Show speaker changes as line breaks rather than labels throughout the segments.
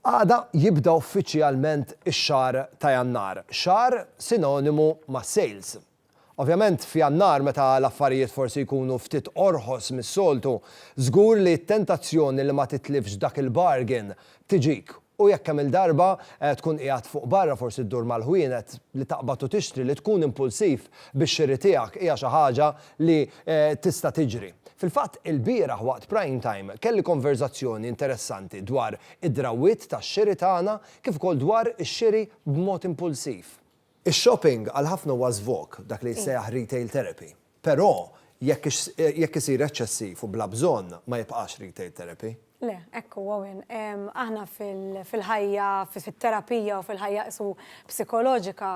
Għada jibda uffiċjalment ix-xahar ta' Jannar, xahar sinonimu ma' sales. Ovvjament f'Jannar meta l-affarijiet forsi jkunu ftit orħos mis-soltu, żgur li t-tentazzjoni li ma titlifx dak il-bargain tiġik U jekk kemm il-darba tkun qiegħed fuq barra forsi ddur mal-ħwienet li taqbad u tixtri li tkun impulsiv bix-xiri tiegħek hija xi ħaġa li tista' tiġri. Fil-fatt ilbieraħ waqt Prime Time kelli konverżazzjoni interessanti dwar id-drawwiet tax-xiri tagħna kif ukoll dwar ix-xiri b'mod impulsiv. Ix-shopping għal ħafna huwa żvog, dak li jissejjaħ retail therapy. Però, jekk jekk isir eċċessiv u bla bżonn, ma jibqax retail therapy. Le, hekk hu,
Owen. Aħna fil-ħajja, fit-terapija u fil-ħajja qishu psikoloġika,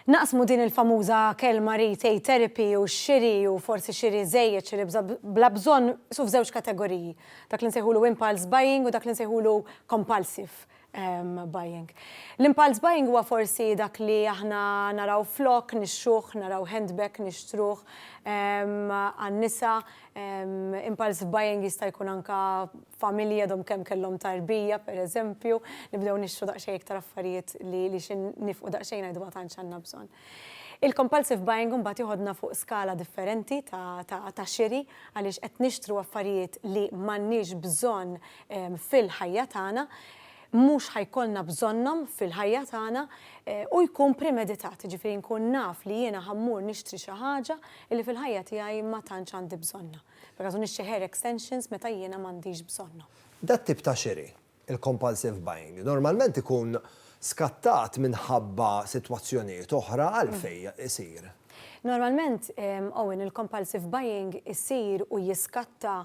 naqsmu din il-famuża kelma retail therapy u x-xiri u forsi xiri żejjed, xiri bla bżonn, qishu f'żewġ kategoriji. Dak li nsejħulu impulse buying u dak li nsejħulu compulsive buying. L-impulse buying huwa forsi dak li aħna naraw flokk nixtruh, naraw handbag nixtruh għan-nisa, impulse buying jista' jkun anke familji għadhom kemm kellhom tarbija pereżempju, nibdew nixtru daqsxejn iktar affarijiet li xi nifqu daqsxejn ngħidu ma tantx għandna bżonn. Il-compulsive buying imbagħad jieħodna fuq skala differenti ta' xiri għaliex qed nixtru affarijiet li m'għandniex bżonn fil-ħajja tagħna, mhux ħa jkollna bżonnhom fil-ħajja tagħna u jkun premeditat, jiġifieri nkun naf li jiena ħa mmur nixtri xi ħaġa li fil-ħajja tiegħi ma tantx għandi bżonnha. Pereżempju nixtri hair extensions meta jiena m'għandix bżonnhom. Dat-tip ta' xiri, il-compulsive buying, normalment ikun skattat minħabba sitwazzjonijiet oħra għalfejn isir. Normalment, Owen, il-compulsive buying isir u jiskatta,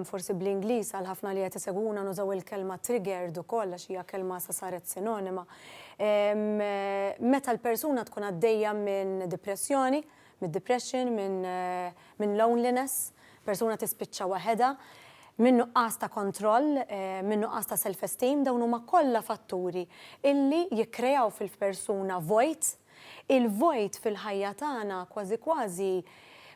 forsi bl-Ingliż għal ħafna li qed isegwuna nużaw il-kelma triggered ukoll għax hija kelma issa saret sinonima, meta l-persuna tkun għaddejja minn dipressjoni, mid-depression, minn loneliness, persuna tispiċċa waħedha, minn nuqqas ta' kontroll, minn nuqqas ta' self-esteem, dawn huma kollha fatturi illi jikkreaw fil-persuna vojt il-vojt fil-ħajja tagħna kważi kważi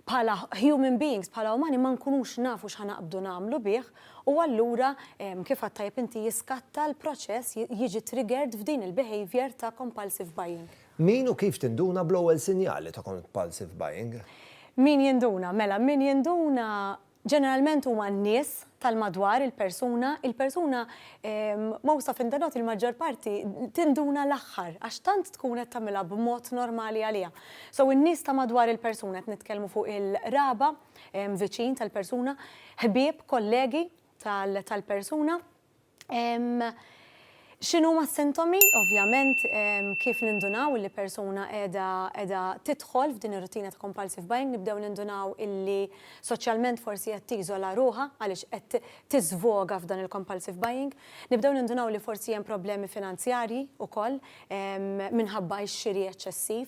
bħala human beings, bħala umani ma nkunux nafu x'ħa naqbdu nagħmlu bih u allura kif għedt tajjeb inti jiskatta l-proċess, jiġi triggered f'din il-behaviour ta' compulsive buying. Min u kif
tinduna bl-ewwel sinjali ta' compulsive buying? Min jinduna?
Mela min jinduna Ġeneralment huma n-nies tal-madwar il-persuna, il-persuna mgħusa f'interroti l-maġġor parti tinduna l-aħħar għax tant tkun qed tagħmilha b'mod normali għaliha. So in-nies ta' madwar il-persuna, qed nitkellmu fuq il-qraba, viċin tal-persuna, ħbieb, kollegi tal-persuna. X'inhuma s-sintomi? Ovvjament, kif nindunaw illi persuna qiegħda qiegħda tidħol f'din ir-rutina ta' compulsive buying, nibdew nindunaw illi soċjalment forsi qed tiżola ruħha għaliex qed tiżvoga f'dan il-compulsive buying. Nibdew nindunaw li forsi hemm problemi finanzjarji wkoll minħabba x-xiri eċċessiv.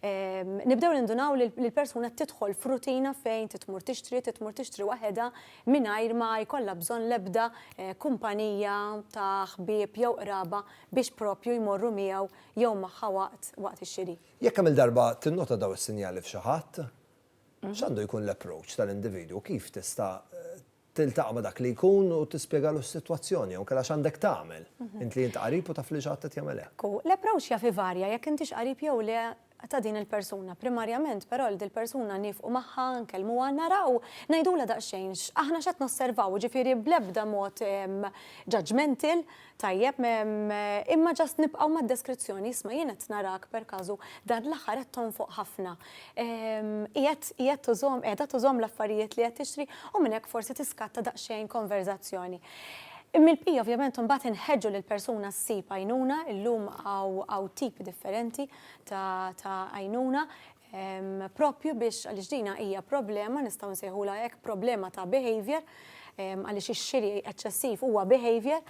Nibdew nindunaw li l-persuna tidħol f'rutina fejn trid tmur tixtri, trid tmur tixtri waħedha, mingħajr ma jkollha bżonn l-ebda kumpanija ta' ħbieb jew qraba biex proprju jmorru miegħu jew magħha waqt waqt ix-xiri. Jekk kemm-il darba
tinnota dawn is-sinjali f'xi ħadd, x'għandu jkun l-approach tal-individwu? Kif tista' tiltaqa' ma' dak li jkun u tispjegalu s-sitwazzjoni jew inkella x'għandek tagħmel, int li int qarib u taf li xi ħadd qed jagħmel hekk? L-approach jaf ivarja
jekk intix qarib jew le ta' din il-persuna. Primarjament, però, 'l dil-persuna niefqu magħha, nkellmuha, naraw, ngħidulha daqsxejn aħna x'qed nosservaw, jiġifieri bl-ebda mod judgmental, tajjeb, imma just nibqgħu mad-deskrizzjoni, 'isma' jien qed narak perkażu dan l-aħħar qed tonfoq ħafna. Qiegħed, qiegħed tużhom, qiegħda tużhom l-affarijiet li qed tixtri? U minn hekk forsi tiskatta daqsxejn konverżazzjoni. Mill-bqija ovvjament imbagħad inħeġġu lill-persuna ssib għajnuna, illum hawn tipi differenti, ta' għajnuna proprju biex għaliex dina hija problema nistgħu nsejħulha hekk problema ta' behavior għaliex ix-xiri eċċessiv huwa behavior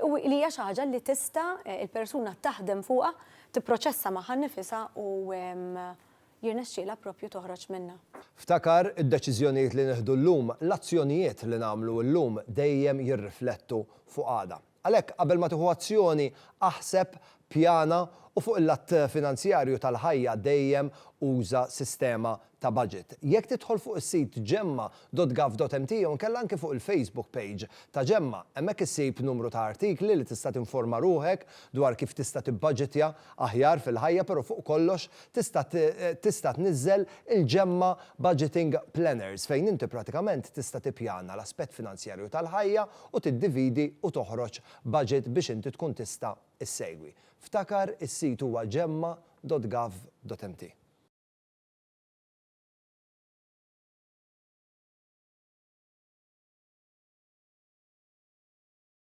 u li hija xi ħaġa li tista' il-persuna taħdem fuqha tipproċessa magħha nnifisha u jirnexxielha proprju toħroġ minnha. Ftakar,
id-deċiżjonijiet li nieħdu llum, l-azzjonijiet li nagħmlu llum dejjem jirriflettu fuq għada. Għalhekk, qabel ma tieħu azzjoni, aħseb, pjana u fuq il-lat finanzjarju tal-ħajja dejjem uża sistema ta' baġit. Jekk tidħol fuq is-sit gemma dot gov dot mt jew inkella anki fuq il-Facebook page ta' Gemma, hemmhekk issib numru ta' artikli li tista' tinforma ruħek dwar kif tista' tibbaġitja aħjar fil-ħajja pero' fuq kollox tista' tista' tniżżel il-ġemma Budgeting Planners fejn inti pratikament tista' tippjana l-aspett finanzjarju tal-ħajja u tiddividi u toħroġ budget biex inti tkun tista' ssegwi. Ftakar is-sit huwa gemma.gov.mt.